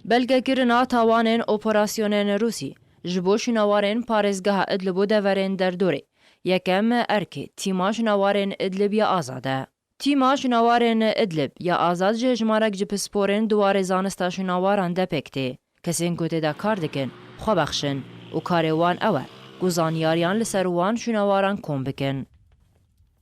Belgekirina tawanên operasyonên Rûsî ji bo şînawarên parêzgeha Idlib û deverên derdorê, Yekem, Erkê, Tîma Şînawarên Idlib ya Azad e. Tîma Şînawarên Idlib ya Azad ji hejmarek ji pisporên di warê zanista şînawaran de pêk tê. Kesên ku tê de kar dikin, xwe bexşin û karê wan ew e ku zanyariyan li ser wan şînawaran kom bikin.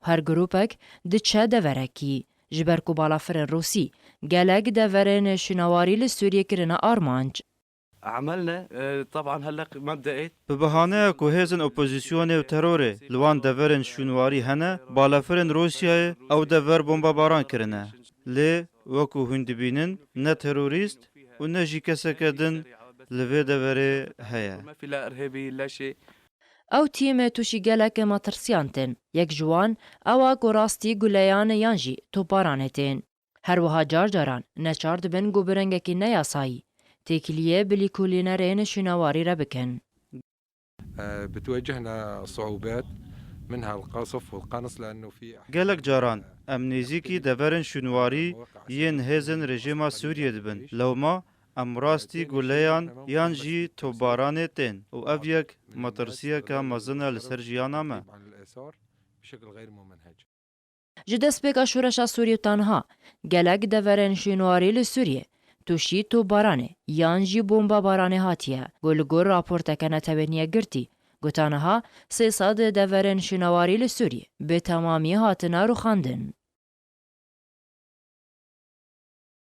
Her grûpek diçe deverekî. Ji ber ku balafirên Rûsî gelek deverên şûnawarî li Sûriyê kirine armanc. Emel ne teban heleq mebdeê. Bi bihaneya ku hêzên opozîsyonê û terorê li wan deverên şûnwarî hene, balafirên Rûsyayê ew dever bombabaran kirine. Lê wekû hûn dibînin ne terorîst û ne jî keseke din li vê deverê heye. Ew tîmê tûşî gelekê metirsîyan tên. Yek ji wan ewa ku rastî guleyanê yan jî toparanê tên. Her wiha car caran neçar dibin ku bi rengekî ne yasayî têkiliyê bi lîkolînerê nişînewarî re bikin. Gelek caran em nêzîkî deverên şûnwarî yên hêzên rejîma Sûriyê dibin. Lewma Em rastî guleyan yan jî topbaranê tên û ev yek metirsiyeke mezin e li ser jiyana me. Ji destpêka şoreşa Sûrî tenha gelek deverên şînwarî li Sûrîyê tûşî topbaranê yan jî bombabaranê hatiye ku li gor raporteke netewênîye girtî gota niha sê sed deverên şînawarî li Sûrîyê bi temamî hatine rûxandin.